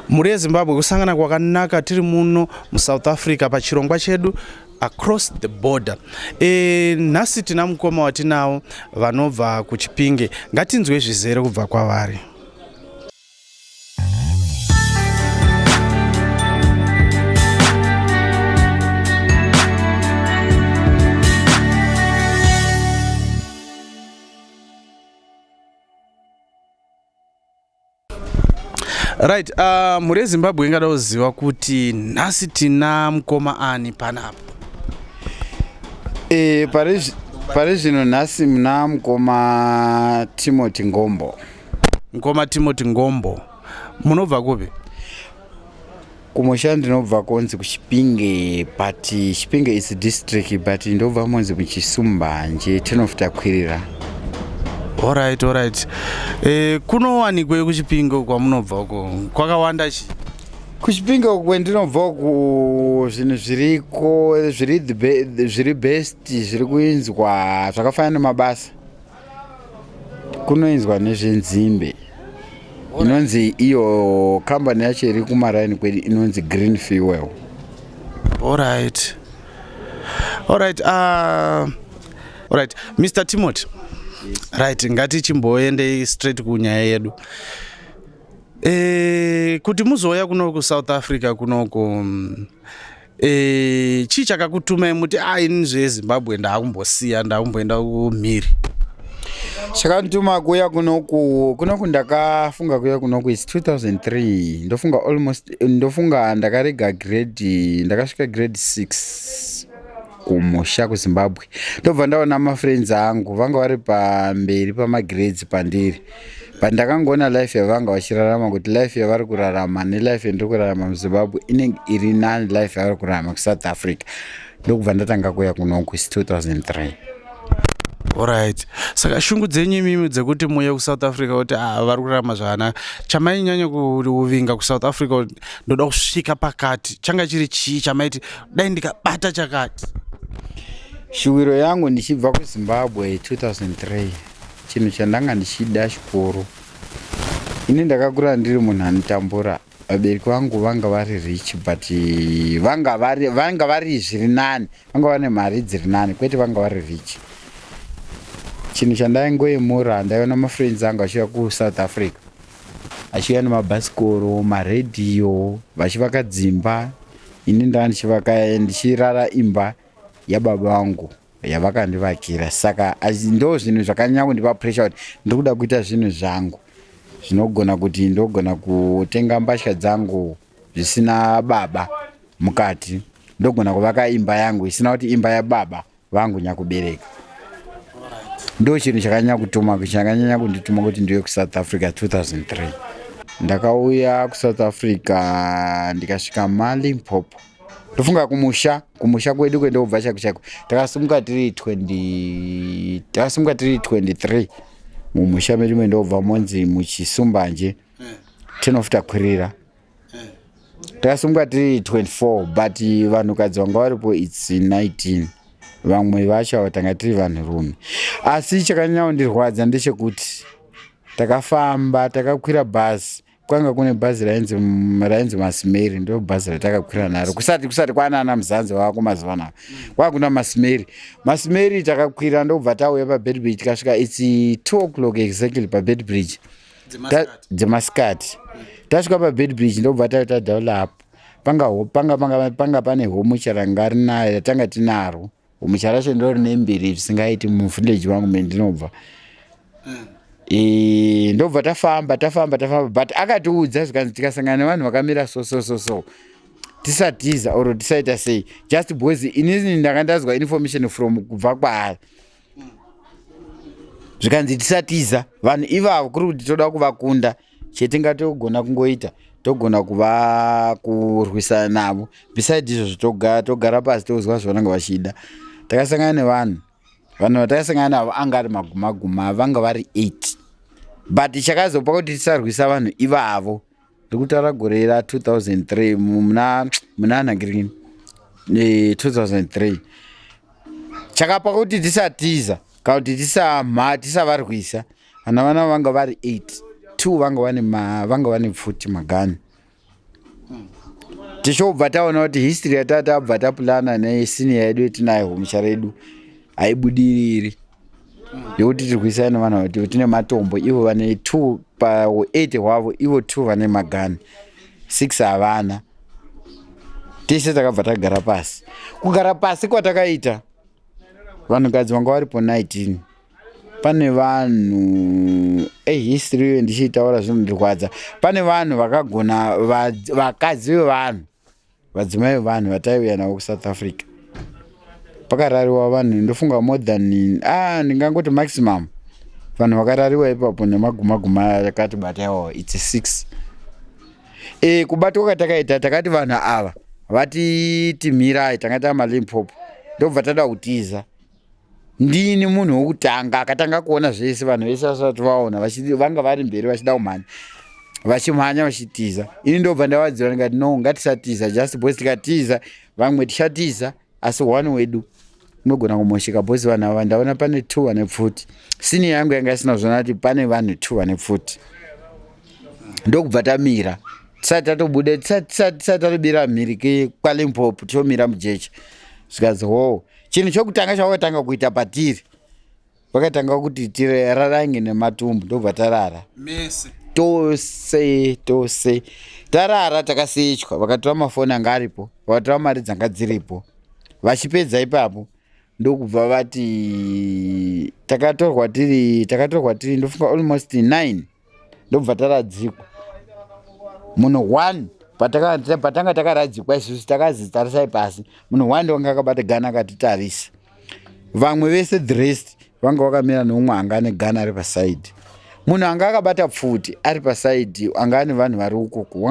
mhuri yezimbabwe kusangana kwakanaka tiri muno musouth africa pachirongwa chedu across the border e, nhasi tina mukoma watinawo vanobva kuchipinge ngatinzwe zvizere kubva kwavari Right, uh, mhuri yeZimbabwe ingada kuziva kuti nhasi tina mukoma ani panapa? Eh, pari zvino nhasi muna mukoma Timothy Ngombo. Mukoma Timothy Ngombo. Munobva kupi? Kumusha ndinobva konzi kuChipinge but Chipinge is district but ndobva monzi kuChisumbanje town of Takwirira. Alright, alright. Eh, kunowanikwe kuChipinge kwamunobva uko kwakawanda chi? kuchipinge uku kwendinobva uku zvinhu zviriko zviri the be- zviri best zviri kuinzwa zvakafanana nemabasa kunoinzwa nezvenzimbe inonzi iyo kambani yacho iri kumaraini kwedu inonzi green fuel allright allright uh, ah, allright mr timothy right ngati chimboendei straight kunyaya yedu e, kuti muzouya kunoku south africa kunoku mm, Eh, chii chakakutumai muti a ah, ini zvezimbabwe ndaakumbosiya ndaakumboenda kumhiri chakandituma kuya kunoku kunoku ndakafunga kuya kunoku its 2003 ndofunga almost ndofunga ndakarega grade ndakasvika grade 6 kumusha kuzimbabwe ndobva ndaona mafriends angu vanga vari pamberi pamagrades pandiri but ndakangoona life yavanga vachirarama kuti life yavari kurarama nelife yandiri kurarama muzimbabwe inenge iri nani life yavari kurarama kusouth africa ndokubva ndatanga kuya kunoku is 2003 orit saka shungu dzenyu imimi dzekuti muye kusouth africa kuti ah, vari kurarama zvakanaka chamainyanya kuvinga kusouth africa ndoda kusvika pakati changa chiri chii chamaiti dai ndikabata chakati shuwiro yangu ndichibva kuzimbabwe 2003 Chinhu chandanga ndichida chikoro. Ini ndakakura ndiri munhu anotambura. Vabereki vangu vanga vari rich but vanga vari vanga vari zviri nani. Vanga vane mari dziri nani kwete vanga vari rich. Chinhu chandaingoyemura ndaiona mafriends angu achiuya kuSouth Africa. Achiuya nemabhasikoro, maradio vachivaka dzimba. Ini ndanga ndichivaka ndichirara imba yababa vangu. yavakandivakira saka ndo zvinhu zvakanyanya kundipa pressure kuti ndiri kuda kuita zvinhu zvangu zvinogona kuti ndogona kutenga mbatya dzangu zvisina baba mukati ndogona kuvaka imba yangu isina kuti imba yababa vangu nyakubereka ndo chinhu chakanyanya kutuma chakanyanya kundituma kuti ndiuye kusouth africa 2003 ndakauya kusouth africa ndikasvika malimpopo ndofunga kumusha kumusha kwedu kwendobva chaiko chaiko takasimuka tiri 20 takasimuka tiri 23 mumusha medu mendobva monzi muchisumbanje tinofita kwirira takasimuka tiri 24 but vanhukadzi vanga varipo its 19 vamwe vacho avo tanga tiri vanhurume asi chakanyaondirwadza ndechekuti takafamba takakwira bhazi kwanga kune bhazi rainzi rainzi masimeri ndo bhazi ratakakwira naro kusati kusati kwana ana muzanzi wako mazuva anaa kwanga kuna masimeri masimeri takakwira ndokubva tauya pabedbridge tikasvika its two o'clock exactly pabedbridge dzemasikati tasvika pabedbridge ndokubva tauya tadaula apo panga panga panga pane homu charanga rinayo ratanga tinaro Mucharashe ndiro rine mbiri zvisingaiti muvillage vangu mendinobva mm. e, ndobva tafamba tafamba tafamba but akatiudza zvikanzi tikasangana nevanhu vakamira so so so so tisatiza or tisaita sei just because inini ndanga ndazwa information from kubva kwaari zvikanzi tisatiza vanhu ivavo kuri kuti toda kuvakunda chetingatogona kungoita togona kuva kurwisana navo beside izvozvo togara, togara pasi tozwa zvavanenge vachida takasangana nevanhu vanhu vatakasangana navo anga ari maguma guma vanga vari eight but chakazopa kuti tisarwisa vanhu ivavo ndikutaura gore ra 2003 muna munana green 2003 eh, chakapa kuti tisatiza kana kuti tisavarwisa tisa Vana vana vanga vari 8 two vanga vane vanga vane pfuti magani tichobva taona kuti history yata tabva tapulana nesiniya yedu yetinayo homusha redu haibudiriri yekuti tirwisana nevana vati tine matombo ivo vane two pa8 hwavo ivo two vane magani six havana tese takabva tagara pasi kugara pasi kwatakaita vanhukadzi vanga varipo 19 pane vanhu eh, history iyo ndichiitaura zvinondirwadza pane vanhu vakagona vakadzi vevanhu vadzimai vevanhu vataiuya navo kusouth africa pakarariwa vanhu ndofunga more than ah, ndingangoti maximum vanhu vakarariwa ipapo nemagumaguma yakati bataiwawo its six e, kubatwa kwatakaita takati vanhu ava vati timirai tanga tava malimpopo ndobva tada kutiza ndini munhu wokutanga akatanga kuona zvese vanhu vese vasati vaona vanga vari mberi vachida kumhanya vachimhanya vachitiza ini ndobva ndavadziva ndikati no ngatisatiza just bcause tikatiza vamwe tichatiza asi one wedu unogona kumosheka bcause vanhu ava ndaona pane two vane pfuti sini yangu yanga isina zvona kuti pane vanhu two vane pfuti ndokubva tamira tisati tatobuda tisati tatobira mhiri kwalimpopo tichomira mujecha zvikanzi hoo chinhu chokutanga chawakatanga kuita patiri vakatanga kuti tirarange nematumbu ndobva tarara tose tose tarara takasechwa vakatora mafoni anga aripo vakatora mari dzanga dziripo vachipedza ipapo ndokubva vati takatorwa tiri takatorwa tiri ndofunga almost nine ndobva taradzikwa munhu one patanga takaradzikwa isusu takazi tarisai pasi munhu one wanga akabata gana akatitarisa vamwe vese the rest vanga vakamira neumwe anga ane gana ari pasaidi munhu anga akabata pfuti ari pasaidi anga ane vanhu vari ukuku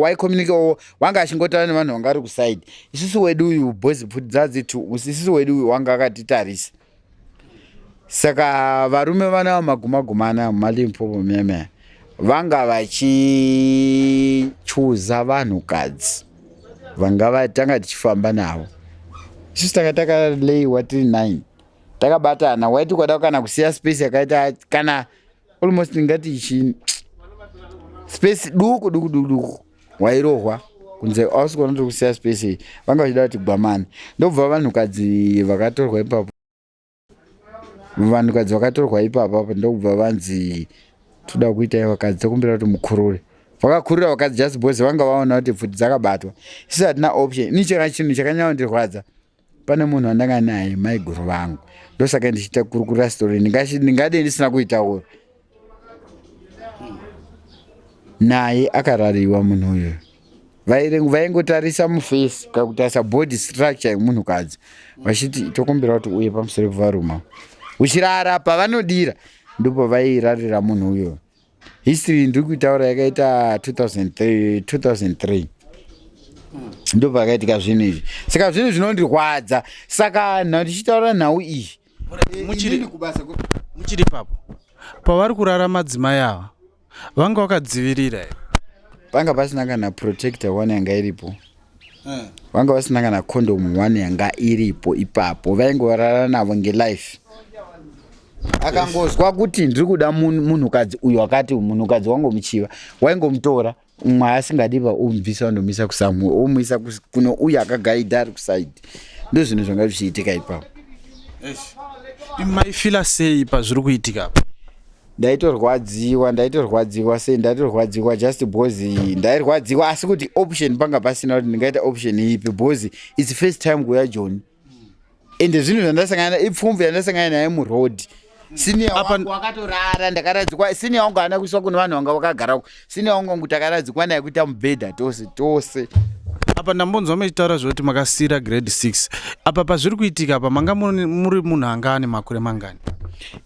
waikommunikewo wanga achingotaura nevanhu vanga ari kusaidi isusu wedu uyu boys pfuti dzadziti isusu wedu uyu wanga akatitarisa saka varume vana magumagumana malimpopo meme vanga vachichuza vanhukadzi vanga vatanga tichifamba navo isusu tanga takaleiwa tiri nine takabatana waiti ukada kana kusiya space yakaita kana almost ingati chii space duku duku duku duku wairohwa kunze ausi kuona tiri kusiya space iyi vanga vachida kuti gwamani ndobva vanhukadzi vakatorwa ipapo vanhukadzi vakatorwa ipapo apo ndokubva vanzi toda kuita vakadzi tokumbira kuti mukurure vakakurira vakadzi just because vanga vaona kuti pfuti dzakabatwa sisi hatina option ini chakana chinhu chakanyaondirwadza pane munhu wandanga naye maiguru vangu ndosaka ndichiita kurukurira story ndingade ndisina kuitaura naye akarariwa munhu uyu vaingotarisa mufesi kana kutarisa body structure yemunhukadzi vachiti tokumbira kuti uye pamusoro pevaruma uchirara pavanodira ndipo vairarira munhu uyoyo history ndiri kuitaura yakaita 2003 2003 ndo pakaitika zvinhu izvi saka zvinhu zvinondirwadza saka nhau ndichitaura nhau iyi muchiri papo pavari kurara madzimai ava vanga vakadzivirira vanga pasina kana protector one yanga iripo vanga vasina kana condom one yanga iripo ipapo vaingorara navo ngelife akangozwa kuti ndiri kuda munhukadzi uyu akati munhukadzi wangu muchiva waingomutora umwe asingadi va omubvisa vandomisa kusamue omuisa kuno uyu akagaidha ari kusaidi ndo zvinhu zvanga zvichiitika ipapo imaifila sei pazviri kuitika apa ndaitorwadziwa ndaitorwadziwa sei ndaitorwadziwa just bcause ndairwadziwa asi kuti option panga pasina kuti ndingaita option ipi bcause its first time kuya joni ende zvinhu zvandasangana ipfumvu yandasangana naye muroad siniya wakatorara ndakaradzikwa siniya wangu haana kuiswa kune vanhu vanga vakagarako sina wangu takaradzikwa naye kuita mubhedha tose tose apa ndambonzwa mechitaura zvekuti makasiira grade 6 apa pazviri kuitika apa manga muri munhu anga ane makore mangani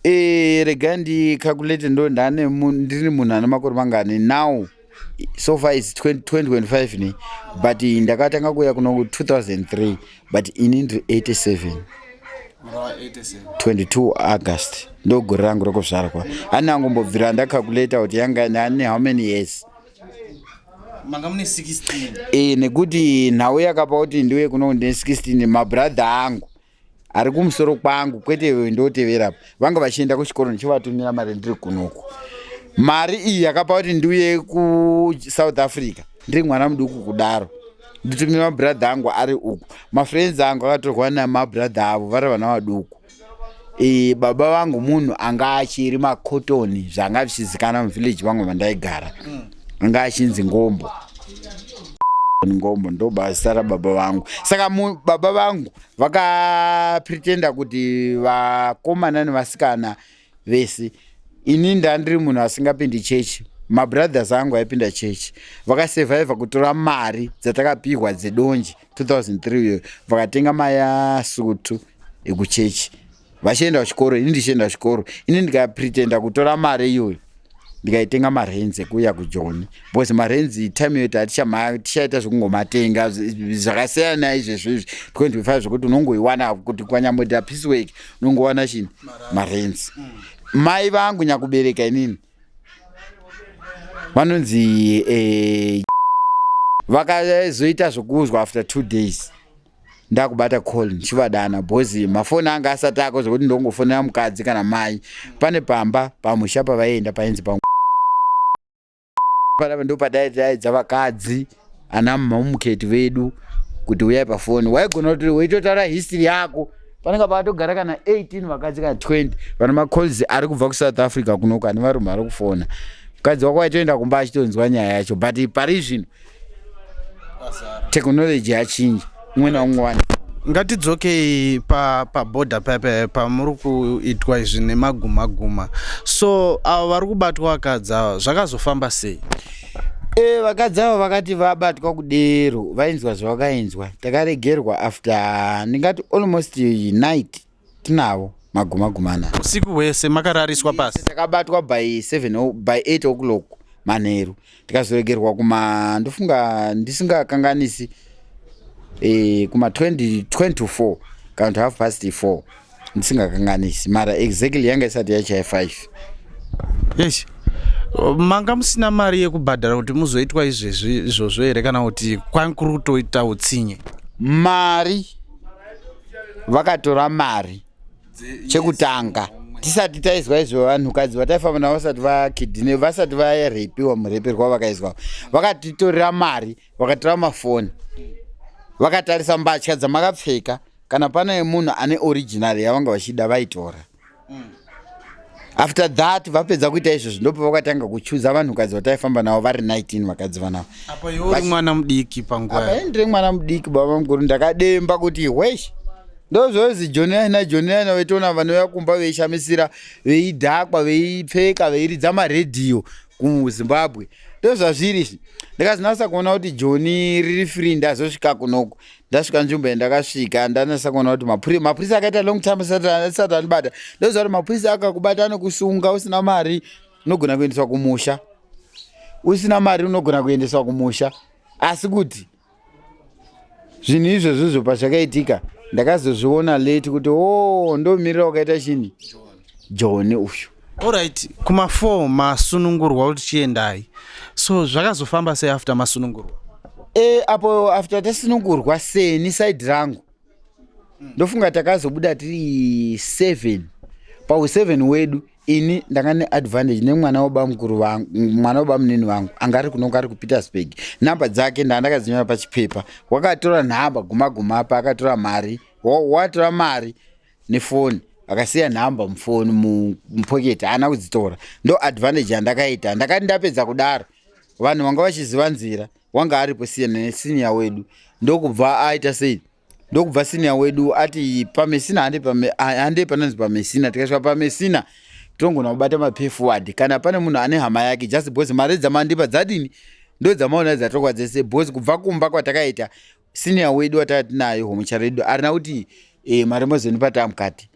e, rega ndicalculate ndo ndane ndiri munhu ane makore mangani now so far is 2025 ne but ndakatanga kuuya kuno 2003 but ini ndiri 87 22 august ndogore rangu rokuzvarwa ani angombobvira ndacalculata kuti yanga nani how many years manga mune 16 e, nekuti nhau yakapa kuti ndiuye kuno ndine 16 mabradha angu ari kumusoro kwangu kwete ndoteverapo vanga vachienda kuchikoro ndichivatumira mari ndiri kunoku mari iyi yakapa kuti ndiuye kusouth africa ndiri mwana muduku kudaro nditumire mabhuradha angu ari uku mafriends angu akatorwa namabhuradha avo vari vana vaduku e, baba vangu munhu anga achiri makotoni zvanga zvichizikana muvillage vangu vandaigara mm. anga achinzi ngombo ngombo ndo basa rababa vangu saka baba vangu vakapretenda kuti vakomana nevasikana mm. vese ini ndandiri munhu asingapindi chechi mabrothers angu aipinda chechi vakasurviva kutora mari dzatakapihwa dzedonje 2003 uyo vakatenga mayasutu ekuchechi vachienda kuchikoro ini ndichienda kuchikoro ini ndikapretenda kutora mari iyoyo ndikaitenga marenzi ekuuya kujoni because marenzi time yoita atichamaya tichaita zvekungomatenga zvakasiyana izvezvo izvi because ndifaa zvekuti unongoiwana kuti kwanyamboita peace work unongowana chini marenzi mm. mai vangu nyakubereka inini vanonzi eh, vakazoita zvekuuzwa after two days ndakubata call ndichivadana bhozi mafoni anga asati ako zvekuti ndongofonera mukadzi kana mai pane pamba pamusha pavaienda painzi pa panapa ndo padaidza vakadzi ana mamuketi vedu kuti uyai pafoni waigona kuti weitotaura history yako panenge paatogara kana 18 vakadzi kana 20 vana macalls ari kubva kusouth africa kunoku ane varume ari kufona mukadzi wako waitoenda kumba achitonzwa nyaya yacho but pari zvino technology yachinja umwe naumwe wani ngatidzokei paborder pa paya pamuri kuitwa izvi nemaguma guma so avo vari kubatwa vakadzi ava zvakazofamba sei e vakadzi avo vakati vabatwa kudero vainzwa zvavakainzwa takaregerwa after ndingati almost night tinavo magumagumana usiku hwese makarariswa pasi takabatwa by 7 by 8 o'clock manheru tikazoregerwa kuma ndofunga ndisingakanganisi e, kuma 20 24 kana kuti half past 4 ndisingakanganisi mara exactly yanga isati yachaya 5 yes manga musina mari yekubhadhara kuti muzoitwa izvezvi izvozvo here kana kuti kwakuri kutoita utsinye mari vakatora mari chekutanga tisati taizwa izvo vanhukadzi vataifamba navo vasati vakidine vasati varepiwa mureperwa vakaizwa vakatitorera mari vakatora mafoni vakatarisa mbatya dzamakapfeka kana pane munhu ane original yavanga vachida vaitora mm. after that vapedza kuita izvozvo ndopo vakatanga kuchuza vanhukadzi vataifamba navo vari 19 vakadzi vanavo apa iwe mwana mudiki panguva ndiri mwana mudiki baba mukuru ndakademba kuti hwesh ndozvozi joniyana joniyana vaitoona vanouya kumba veishamisira veidhakwa veipfeka veiridza maredhiyo kuzimbabwe ndozvazviri izvi ndikazinasa kuona kuti joni riri free ndazosvika kunoku ndasvika nzvimbo yandakasvika ndanasa kuona kuti mapurisa akaita long time asati anibata ndoziva kuti mapurisa akakubata anokusunga usina mari unogona kuendeswa kumusha usina mari unogona kuendeswa kumusha asi kuti zvinhu izvozvo zvo pazvakaitika ndakazozviona late kuti o oh, ndomirira wakaita chini joni uyu Alright, kuma 4 masunungurwa kuti chiendai. So zvakazofamba sei after masunungurwa? Eh, apo after tasunungurwa seni side rangu. Mm. Ndofunga takazobuda tiri 7. Pa 7 wedu ini ndanga ne advantage ne mwana wa bamukuru vangu, mwana wa bamunini vangu anga ari kunonga ari ku Petersburg. Number dzake ndandakazinyora pa chipepa. Wakatora nhamba guma guma apa akatora mari. Watora mari. nefoni akasiya nhamba mufoni mupoketi haana kudzitora ndo advantage yandakaita ndakati ndapedza kudaro vanhu vanga vachiziva nzira wanga aripo siyana nesiniya wedu ndokubva aita sei ndokubva siniya wedu ati pamesina handei panonzi pamesina tikasvika pamesina tongona kubata mapefward kana pane munhu ane hama yake just bcause mari dzamandipa dzadini ndodzamaona dzatokwa dzese bcause kubva kumba kwatakaita senior wedu watanga tinaye homucha redu arina kuti eh, mari mozoni pataa mukati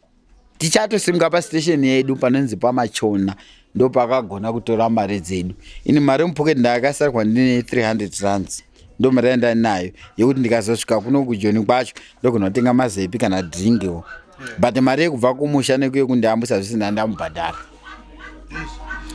tichatosimuka pastation yedu panonzi pamachona ndo pakagona kutora mari dzedu ini mari mupocket ndakasarwa ndine 300 rands ndo mari yanda nayo yekuti ndikazosvika kuno kujoni kwacho ndogona kutenga mazepi kana dringiwo but mari yekubva kumusha nekuye kundiyambusa zvese ndandamubhadhara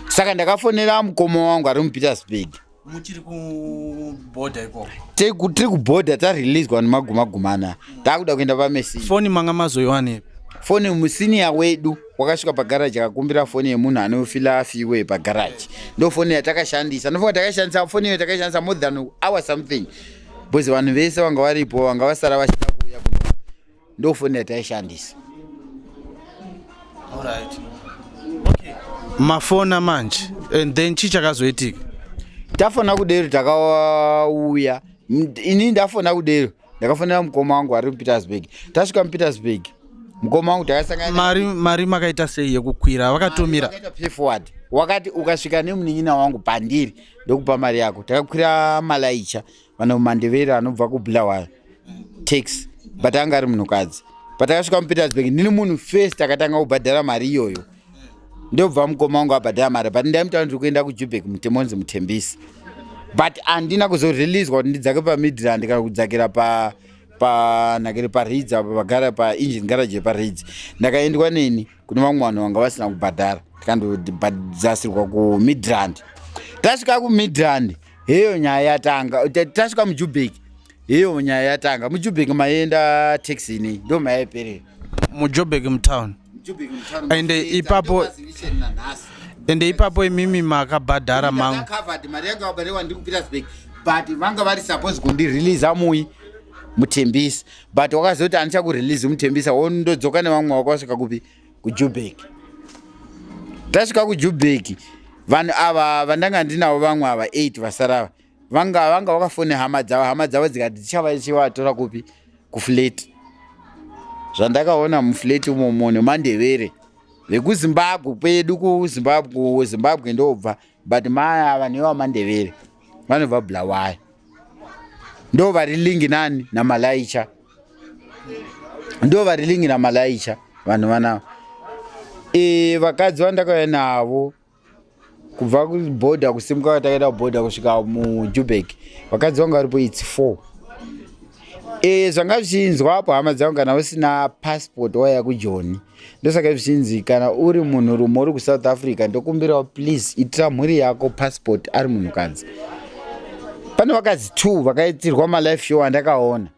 saka ndakafonera mukoma wangu ari mupetersburg muchiri kubhodha ikoko tiri kubhodha tareleaswa nemagumagumana taakuda kuenda pamesi foni manga mazoiwane foni musiniya wedu wakasvika pagaraji akakumbira foni yemunhu anofila afiwe pagaraji ndo foni yatakashandisa ndofunga takashandisa foni iyo takashandisa more than hour something bcause vanhu vese vanga varipo vanga vasara vachida kuuya kuno ndofoni yataishandisa right. okay. mafona manje and then chii chakazoitika tafona kudero takauya ini ndafona kudero ndakafonera mukoma wangu ari mupetersburg tasvika mupetersburg mukoma wangu takasangamari mari makaita sei yekukwira vakatumira payforward wakati ukasvika nemunin'ina wangu pandiri ndokupa mari yako takakwira malaicha vana mandevere anobva kubulawayo tax but anga ari munhukadzi but akasvika mupetersburg ndini munhu first akatanga kubhadhara mari iyoyo ndobva mukoma wangu abhadhara mari but ndaimutaura ndiri kuenda kujubek mutemonzi mutembisi but handina kuzoreleaswa kuti ndidzake pamidland kana kudzakira pa panhakiri paridzi apa pagara paengine garage yeparidzi ndakaendwa neni kune vamwe vanhu vanga vasina kubhadhara tikandobhadzasirwa kumidland tasvika kumidland heyo nyaya yatanga tasvika mujubek heyo nyaya yatanga mujubek maienda taxi nei ndo mayaiperera mujubek mutown ende ipapo ende ipapo imimi makabhadhara mangu but vanga vari suppose kundireleasa mui mutembisa but wakazoti andichakurelease mutembisa wondodzoka nevamwe wako wasvika kupi kujubheki tasvika kujubheki vanhu ava vandanga ndinavo vamwe ava 8 vasarava vanga vanga vakafone hama dzavo hama dzavo dzikati dzichavachivatora kupi kufleti zvandakaona mufleti umomo nemandevere vekuzimbabwe kwedu kuzimbabwe zimbabwe ndobva but mai ava nevamandevere vanobva bulawayo ndo vari lingi nani namalaicha ndo vari lingi namalaicha vanhu vanava e, vakadzi vandakauya navo kubva kuboda kusimuka kwatakaenda kuboda kusvika mujubek vakadzi vanga varipo its four e, zvanga zvichinzwa apo hama dzangu kana usina passport waya kujoni ndosaka zvichinzi kana uri munhu rume uri kusouth africa ndokumbirawo please itira mhuri yako passport ari munhukadzi pane vakadzi two vakaitirwa malife show andakaona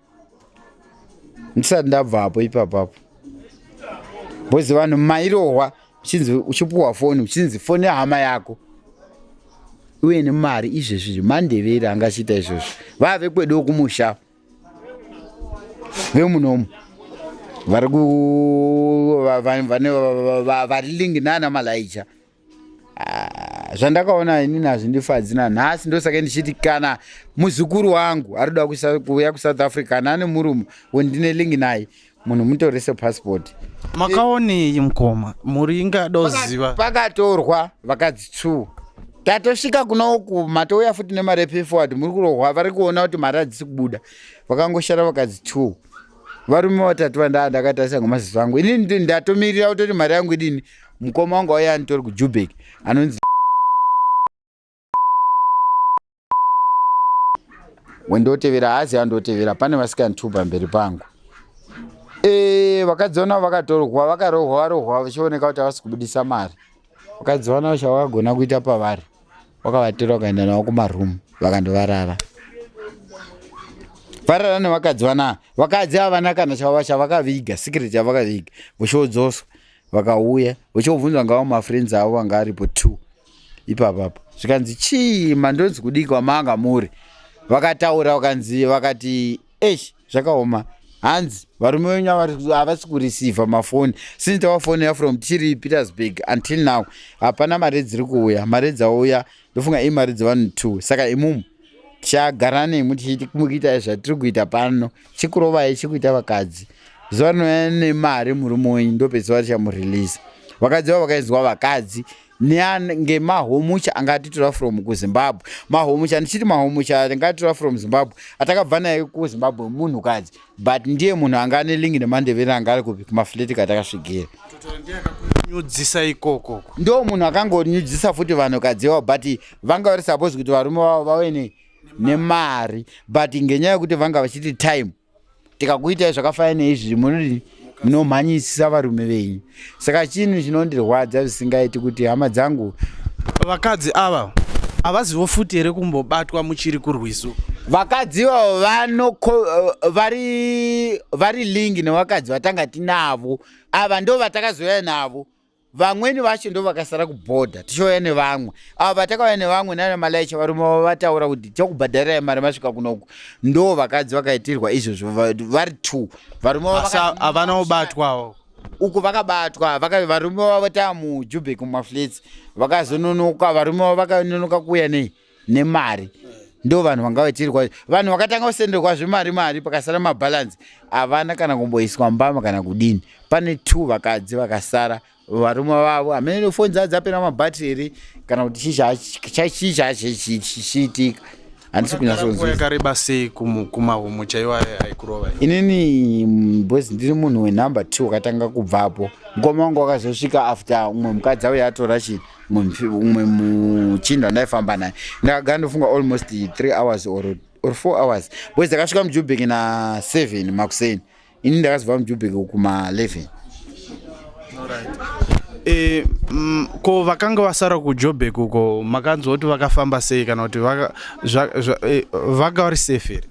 ndisati ndabvapo ipapapo boys vanhu mairohwa uchinzi uchipuhwa foni uchinzi foni yehama yako uye nemari izvezvi zvemandevere angachiita izvozvo vave kwedu kumusha vemunomu vari kuvaringi nana malaija ah, zvandakaona ini nazvindifadzi nanhasi ndosaka ndichiti kana muzukuru wangu arikuda kuuya kusouth africa nane murume wendine lingi naye munhu mutorise passport makaonei mukoma mhuri ingada kuziva pakatorwa vakadzi two tatosvika kuna uku matouya futi nemari yepay forward muri kurohwa vari kuona kuti mari hadzisi kubuda vakangoshara vakadzi two varume vatatu vandaa ndakatarisa ngomaziso angu inini ndatomirira kutoti mari yangu idini mukoma wangu auya anitori kujubek anonzi wendotevera haazi andotevera pane vasikantuba mberi pangu eh, vakadziona vakatorwa vakarohwa varohwa vachioneka kuti havasi kubudisa mari vakadziona chavakagona kuita pavari wakavatira ukaenda navo kumaroom vakandovarara varara nevakadzi vanaa vakadzi avana kana chava chavakaviga secret yavakaviga vochiodzoswa vakauya vochiobvunza ngava mafriends avo vanga aripo two ipapa apo zvikanzi chii mandonzi kudii kwamanga muri vakataura vakanzi vakati esh zvakaoma hanzi varume venyu havasi kurisivha mafoni since tawafonera from tiri petersburg until now hapana mari dziri kuuya mari dzauya ndofunga imari dzevanhu two saka imumu tichagara nemwi tichimukuitai zvatiri kuita pano chikurovai chikuita vakadzi zuva rinouya nemari murume wenyu ndopezuva richamureleasa vakadzi vavo vakainzwa vakadzi ngemahomucha anga atitora from kuzimbabwe mahomucha ndichiti mahomucha anga atitora from zimbabwe atakabva naye kuzimbabwe munhukadzi but ndiye munhu anga ane lingi nemandevere anga ari kupi kumafleti katakasvigera nyudzisa ikoko ndo munhu akangonyudzisa futi vanhukadzi ivavo but vanga vari suppose kuti varume vavo vave nemari but ngenyaya yekuti vanga vachiti time tikakuitai zvakafanana neizvi munodii munomhanyisisa varume venyu saka chinhu chinondirwadza zvisingaiti kuti hama dzangu vakadzi ava havazivo futi here kumbobatwa muchiri kurwiso vakadzi ivavo vanoko eh, vari vari lingi nevakadzi vatanga tinavo ava ndo vatakazouya navo vamweni vacho ndo vakasara kubhodha tichouya nevamwe avo vatakauya nevamwe nana malaicha varume vavo vataura kuti tichakubhadharirai mari masvika kunoku ndo vakadzi vakaitirwa izvozvo vari two varume havana kubatwawo uku vakabatwa varume vavo taa mujubek mumaflets vakazononoka varume vavo vakanonoka kuuya nei nemari ndo vanhu vanga vachiri kwa vanhu vakatanga kusenderwa zvemari mari pakasara mabhalansi havana kana kumboiswa mbama kana kudini pane two vakadzi vakasara varume vavo hamene foni dzaa dzapera mabhatiri here kana kuti chii chaachichiitika handisi kunyasoyakareba sei kumahomo chaiwo aikurova inini mm, bos ndiri munhu wenumber two wakatanga kubvapo mukoma wangu wakazosvika after umwe mukadzi auya atora chii mumwe muchinda ndaifamba naye ndakagara ndofunga almost three hours or, or four hours boys akasvika mujubek na seven makuseni ini ndakazova mujubek kuma eleven E, mm, ko vakanga vasara kujobek uko makanzwa kuti vakafamba sei kana kuti vaka e, vari safe here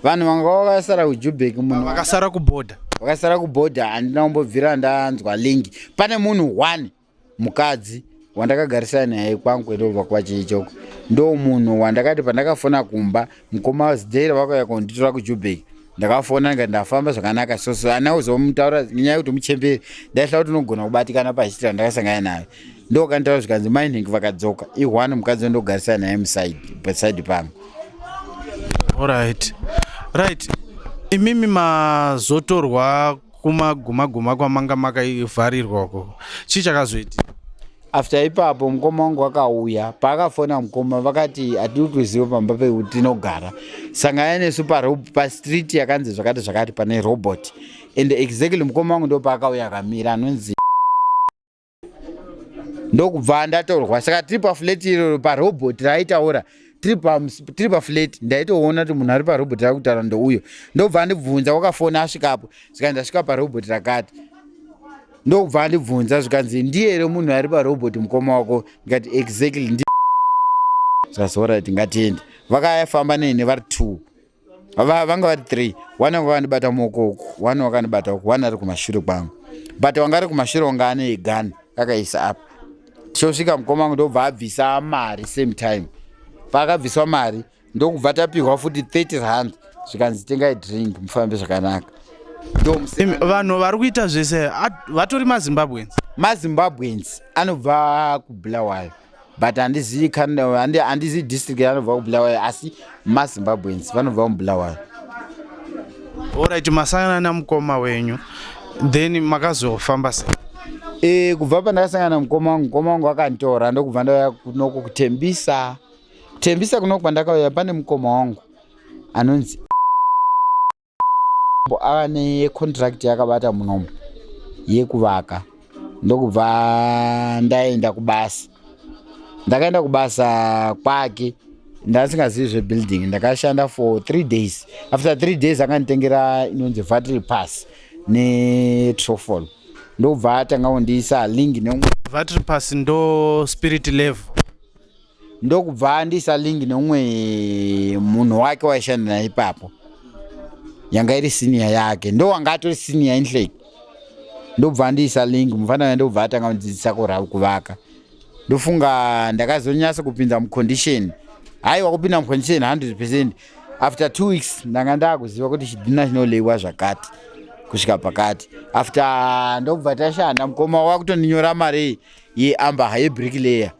vanhu vanga vakasara kujubek munhu vakasara kuboda vakasara kuboda handina kumbobvira ndanzwa lingi pane munhu one mukadzi wandakagarisana naye kwangu etobva kwachi ichoko ndo munhu wandakati pandakafona kumba mukoma zidhera vakauya konditora kujubheki ndakafona ndikati ndafamba zvakanaka so so ana uzomutaura nyaya yekuti muchemberi ndaihla kuti unogona kubatikana pachitira ndakasangana nayo ndokanditaura zvikanzi mai nhingi vakadzoka ihwani mukadzi wandogarisana naye muside paside pangu Alright. Right. Imimi mazotorwa kumaguma guma kwamanga makavharirwa uko chii chakazoitika after ipapo mukoma wangu wakauya paakafona mukoma vakati hatiri kuziva pamba pekuti tinogara sangana nesu pastreet yakanzi zvakati zvakati pane robot and exactly mukoma wangu ndopaakauya akamira anonzi ndokubva ndatorwa saka tiri pafleti iroro parobot raitaura tiri pafleti ndaitoona kuti munhu ari parobot rava kutaura ndouyo ndokubva andibvunza wakafona asvikapo saka ndasvika parobot rakati ndokubva andibvunza zvikanzi ndiye here munhu ari parobot mukoma wako ndikati exactly ndi zvasorit ngatiende vakayafamba neni vari two va vanga vari three one wanga akandibata muoko uku one wakandibata uku one ari kumashure kwangu but wanga ari kumashure wanga ane igani akaisa apa tichosvika mukoma wangu ndobva abvisa mari same time paakabviswa mari ndokubva tapihwa futi 30 rand zvikanzi tengai drink mufambe zvakanaka vanhu vari kuita zvese vatori mazimbabwens mazimbabwens anobva kubulawayo but handizivi handizivi district yanobva kubulawayo asi mazimbabweans vanobva mubulawayo orit masangana namukoma wenyu then makazofamba se e, kubva pandakasangana namukoma wangu mukoma wangu akanditora ndokubva ndauya kunoku kutembisa kutembisa kunoku pandakauya pane mukoma wangu anonzi ava necontract yakabata munomu yekuvaka ndokubva ndaenda kubasa ndakaenda kubasa kwake ndasingazivi zvebuilding ndakashanda for three days after three days akanditengera inonzi vatry pass netrofol ndokubva atanga kundiisa link neumwe vatry pass ndo spirit level ndokubva andiisa link neumwe munhu wake waishanda naye ipapo yanga iri senior yake ndo wanga atori senior inhlek ndobva andiisa link mufana uya ndobva atanga kundidzidzisa kura kuvaka ndofunga ndakazonyasa kupinda mucondition haiwa kupinda mucondition 100 percent after two weeks ndanga ndakuziva kuti chidhina chinoleiwa zvakati kusvika pakati after ndobva tashanda mukoma wakutoninyora mari yeamber yebrick layer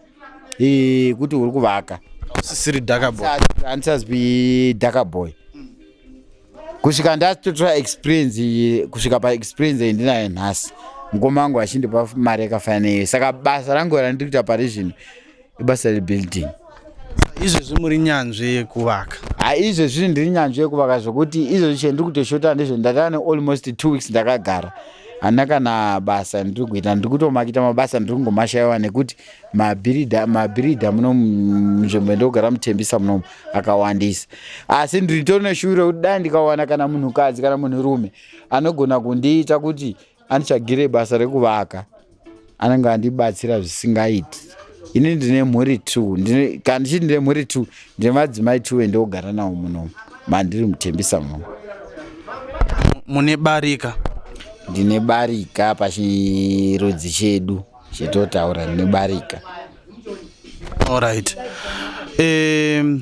eh, kuti uri kuvaka usisiri daka boy handisazwi daka boy kusvika ndatotora experience iyi kusvika paexperience iyi ndinayo nhasi mukoma wangu achindipa mari yakafanana iyo saka basa rangu randiri kuita pari zvino ibasa rebuilding izvezvi muri nyanzvi yekuvaka ha izvezvi ndiri nyanzvi yekuvaka zvekuti izvezvi chendiri kutoshota ndezve ndatava nealmost two weeks ndakagara hana kana basa ndiri kuita ndiri kutomakita mabasa ndiri kungomashayiwa nekuti mabhiridha mabhiridha muno munzvimbo ndogara mutembisa munomu akawandisa asi ndiritori neshuviro kuti dai ndikawana kana munhukadzi kana munhurume anogona kundiita kuti anditsvagire basa rekuvaka anenge andibatsira zvisingaiti ini ndine mhuri two kana ndichiti ndine mhuri two ndine madzimai two endiogara nawo munomu mandiri mutembisa muno mune barika ndine barika pachirudzi chedu chetotaura ndine barika allright um,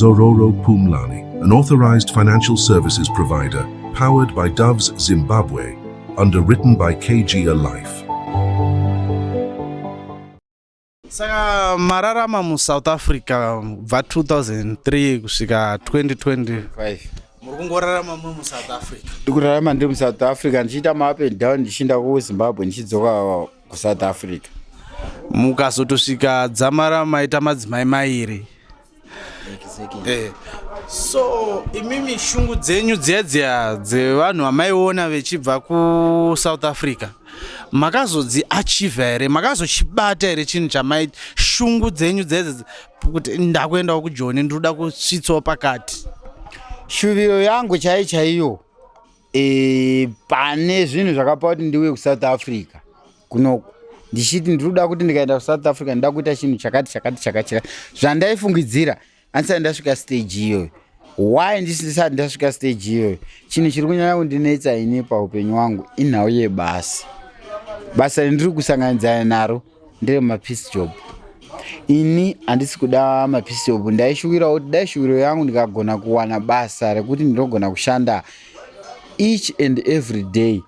Zororo Pumlani, an authorized financial services provider, powered by Doves Zimbabwe, underwritten by KG Alife. saka mararama musouth africa bva 2003 kusvika 2020 muri kungorarama muri musouth africa ndikurarama ndiri musouth africa ndichiita maup and down ndichiinda kuzimbabwe ndichidzoka kusouth africa mukazotosvika dzamara maita madzimai mairi Eh, so imimi shungu dzenyu dziya dziya dzevanhu vamaiona vechibva kusouth africa makazodzi achieve here makazochibata here chinhu chamai shungu dzenyu dzedze kuti ndakuendawo kujoni ndinoda kusvitsawo pakati shuviro yangu chai chaiyo e, pane zvinhu zvakapa kuti ndiuye kusouth africa kunoku ndichiti ndiri kuda kuti ndikaenda kusouth africa ndida kuita chinhu chakati chakati chakati chakati zvandaifungidzira andisati ndasvika stage iyoyo why ndisati ndasvika stage iyoyo chinhu chiri kunyanya kundinetsa ini paupenyu wangu inhau yebasa basa rindiri kusanganidzana naro ndere mapiece job ini handisi kuda mapiece job ndaishuwirawo kuti dai shuwiro yangu ndikagona kuwana basa rekuti ndinogona kushanda each and every day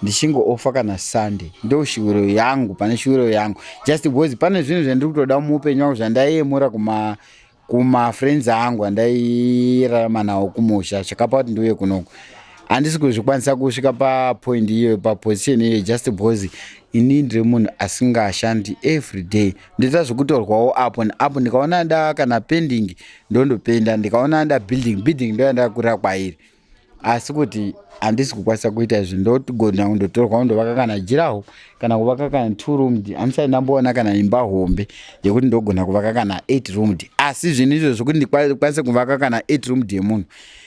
ndichingoofa kana sunday ndo shuviro yangu pane shuviro yangu just because pane zvinhu zvandiri kutoda muupenyu wangu zvandaiyemura kuma kumafriends angu andairarama nawo kumusha chakapa kuti ndiuye kunoku handisi kuzvikwanisa kusvika papoint iyoyo paposition iyoyo just because ini ndiri munhu asingashandi every day ndoita zvekutorwawo apo neapo ndikaona yanda kana pending ndondopenda ndikaona yanda building building ndoyanda kurira kwairi asi kuti handisi kukwanisa kuita izvi ndogona kundotorwa kundovaka kana jiraho kana kuvaka kana two roomed handisati ndamboona kana imba hombe yekuti ndogona kuvaka kana eight roomed asi zvinhu izvo zvekuti ndikwanise kuvaka kana eight roomed yemunhu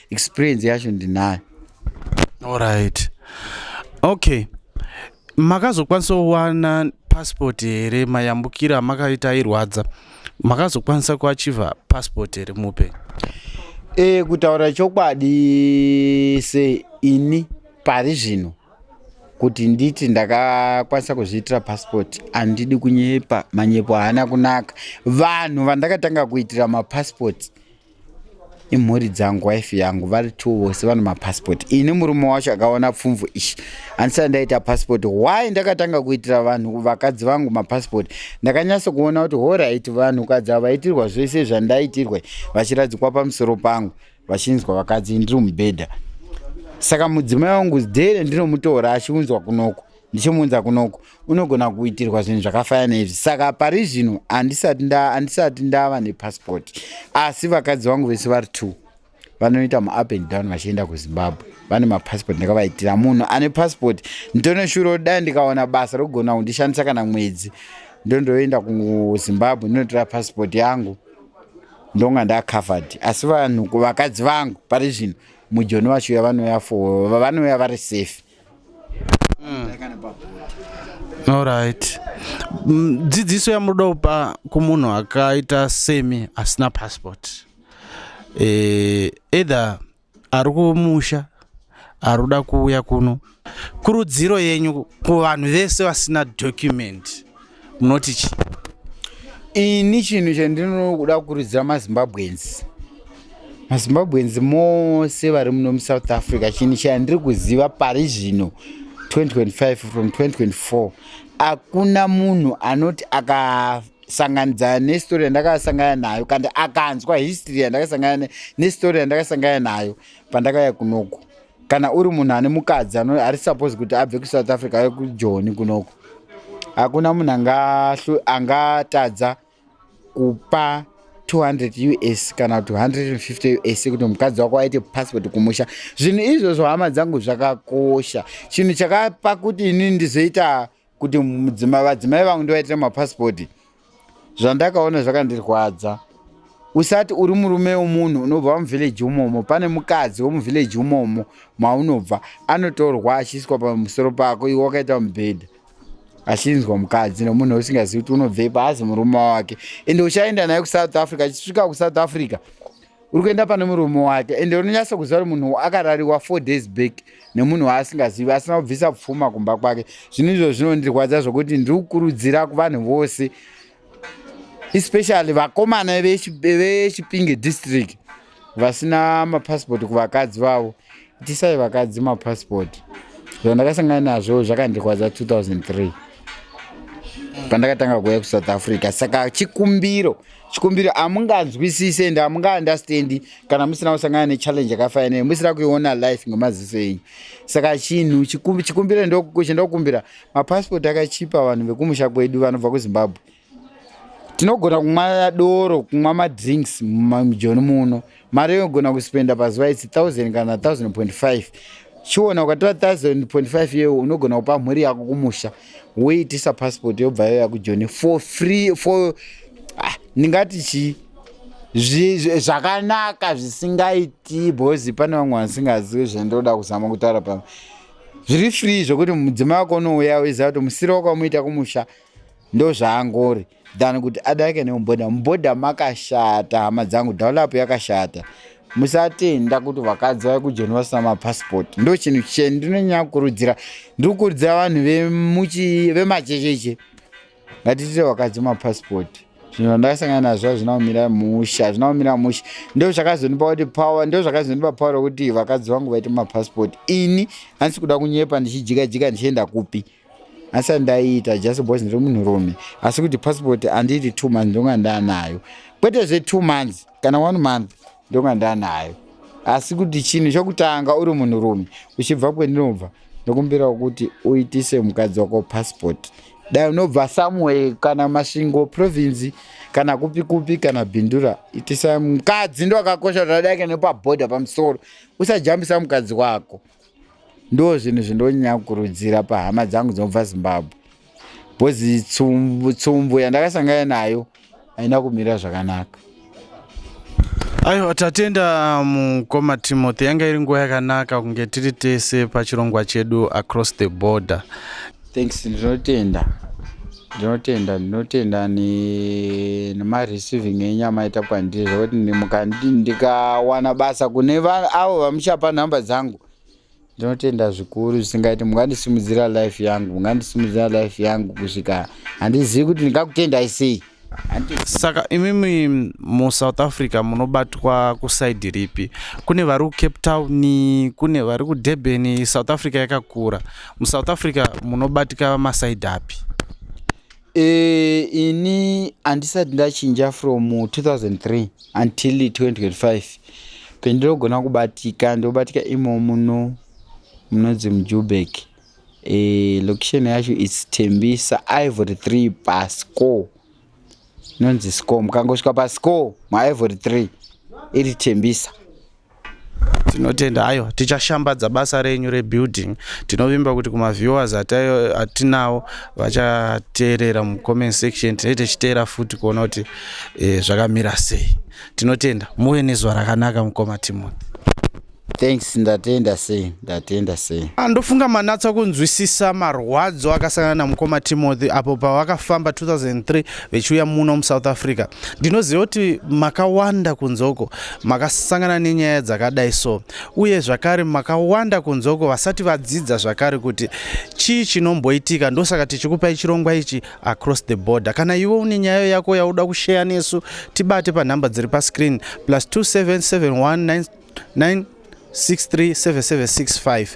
experience yacho ndinayo allright okay makazokwanisa kuwana passport here mayambukira amakaita airwadza makazokwanisa kuachiva passport here mupe e, kutaura chokwadi se ini pari zvino kuti nditi ndakakwanisa kuzviitira passport andidi kunyepa manyepo haana kunaka vanhu vandakatanga kuitira mapassport imhuri dzangu wife yangu vari two vose vane mapasipoti ini murume wacho akaona pfumvu ishi handisati ndaita pasipoti why ndakatanga kuitira vanhu vakadzi vangu mapasipoti ndakanyatso kuona kuti horit vanhu kadzi ava vaitirwa zvese zvandaitirwa vachiradzikwa pamusoro pangu vachinzwa vakadzi ndiri mubhedha saka mudzimai wangu dhere ndinomutora achiunzwa kunoko ndichimuunza kunoku unogona kuitirwa zvinhu zvakafanana neizvi saka pari zvino handisati ndava nepasipoti asi vakadzi vangu vese vari two vanoita muup and down vachienda kuzimbabwe vane mapasipoti ndakavaitira munhu ane pasipoti nditone shuro dai ndikaona basa rokugona kundishandisa kana mwedzi ndondoenda kuzimbabwe ndinotora pasipoti yangu ndonga ndacovered asi vanhu vakadzi vangu pari zvino mujoni vachiuya vanoya fo vanoya vari safe Mm. Alright. Mm, dzidziso yamunoda kupa kumunhu akaita semi asina passport eh, either ari kumusha ari kuda kuuya kuno kurudziro yenyu kuvanhu vese vasina document munoti chi ini chinhu chandinoda kukurudzira mazimbabwenzi mazimbabwenzi mose vari muno musouth africa chinhu chandiri kuziva pari zvino 2025 from 2024 hakuna munhu anoti aka sanganidzana nestori yandakasangana nayo kandi akanzwa history yandakasangana nestori yandakasangana nayo pandakauya kunoku kana uri munhu ane mukadzi ari suppose kuti abve kusouth africa aye kujoni kunoko hakuna munhu angatadza kupa 200 us kana 250 us kuti mukadzi wako aite passport kumusha zvinhu izvozvo hama dzangu zvakakosha chinhu chakapa kuti ini ndizoita kuti mudzima vadzimai vangu ndivaitira mapasipoti zvandakaona zvakandirwadza usati uri murume womunhu unobva muvhileji umomo pane mukadzi womuvhileji umomo maunobva anotorwa achiiswa pamusoro pako iwe wakaita mubhedha achinzwa mukadzi nomunhu usingazivi kuti unobvei paazi murume wake ende uchaenda naye kusouth africa achisvika kusouth africa uri kuenda pane murume wake ende unonyasa kuziva kuti munhu akarariwa four days back nemunhu waasingazivi asina kubvisa pfuma kumba kwake zvinhu izvo zvinondirwadza zvokuti ndiri kukurudzira kuvanhu vose especially vakomana vechipinge district vasina mapasipoti kuvakadzi vavo Itisai vakadzi mapassport zvandakasangana nazvo zvakandirwadza 2003 pandakatanga kuuya kusouth africa saka chikumbiro chikumbiro hamunganzwisise ende hamungaandastandi kana musina kusangana nechallenge yakafaya nei musina kuiona life ngemaziso enyu saka chinhu chikumbiro chendokukumbira mapassport akachipa vanhu vekumusha kwedu vanobva kuzimbabwe tinogona kumwa doro kumwa madrinks mumijoni muno mari yogona kuspenda pazuva isi 1000 kana 1000.5 chiona ukatora 1000.5 iyoyo unogona kupa mhuri yako kumusha woitisa passport yobva yoya kujoni for free for ah, ndingati chii zvakanaka zvisingaiti bhozi pane vamwe vasingazivi zvendoda kuzama kutaura pamwe zviri free zvokuti mudzimai wako unouya uiziva kuti musiro wakamuita kumusha ndozvaangori than kuti adarike nemubhodha mubhodha makashata hama dzangu dhaulap yakashata musatenda kuti vakadzi vave kujoni vasina mapasipoti ndo chinhu cheni ndinonyanya kukurudzira ndiri kukurudzira vanhu vemachecheche ngatitire vakadzi mapasipoti zvinhu zvandakasangana nazvo hazvina kumira musha hazvina kumira musha ndo zvakazondipa kuti power ndo zvakazondipa power rokuti vakadzi vangu vaite mapasipoti ini handisi kuda kunyepa ndichijika jika ndichienda kupi asi andaiita just because ndiri munhurume asi kuti passport andiiti two months ndonga ndaanayo kwete zve two months kana one month ndonga ndaanayo asi kuti chinhu chokutanga uri munhurume uchibva kwendinobva ndokumbirawo kuti uitise mukadzi wako passport dai unobva somewhere kana masvingo province kana kupi kupi kana bindura itisa mukadzi ndo akakosha zvadake nepaboda pamusoro usajambisa mukadzi wako Ndoo zvinhu zvindonyanya kukurudzira pahama dzangu dzinobva Zimbabwe because tsumbu, tsumbu yandakasangana nayo haina kumira zvakanaka. Aiwa tatenda mukoma um, Timothy, yanga iri nguva yakanaka kunge tiri tese pachirongwa chedu across the border. thanks ndinotenda ndinotenda ndinotenda nemareceiving enyu amaita kwandiri zvekuti ndikawana basa kune avo vamuchapa nhamba dzangu ndinotenda zvikuru zvisingaiti mungandisimudzira life yangu mungandisimudzira life yangu kusvika handizivi kuti ndingakutendai sei saka imimi musouth africa munobatwa kusaidi ripi kune vari kucape town kune vari kudurban south africa yakakura musouth africa munobatika masaidi api e, ini handisati ndachinja from 2003 until 2025 pendinogona kubatika ndobatika imo muno munonzi mujubeki Eh, location yacho is Tembisa Ivory 3 pasco. Nonzi score. Mukangosvika pasco ma Ivory 3 iri Tembisa. tinotenda hayo tichashambadza basa renyu rebuilding tinovimba kuti kumaviewers atinawo vachateerera mucomment section tinee tichiteera futi kuona kuti e, zvakamira sei tinotenda muve nezuva rakanaka mukoma timothy Thanks, ndatenda sei, ndatenda sei. Ah, ndofunga manatsa kunzwisisa marwadzo akasangana namukoma Timothy apo pavakafamba 2003 vechiuya muno muSouth Africa. Ndinoziva kuti makawanda kunzoko makasangana nenyaya dzakadai so, uye zvakare makawanda kunzoko vasati vadzidza zvakare kuti chii chinomboitika. Ndosaka tichikupai chirongwa ichi across the border. Kana iwe une nyaya yako yauda kusheya nesu, tibate panhamba dziri pascreen plus 2771 9 637765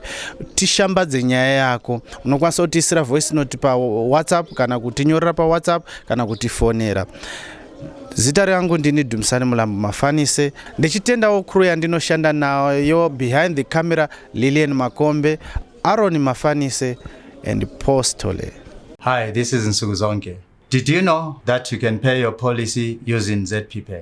tishambadze nyaya yako unokwanisa kutiisira voice note pawhatsapp kana kutinyorera pawhatsapp kana kutifonera zita rangu ndini dumisani mulambo mafanise ndichitendawo crew yandinoshanda nayo behind the camera lilian makombe aroni mafanise and postole hi this is nsuku zonke did you know that you can pay your policy using zpay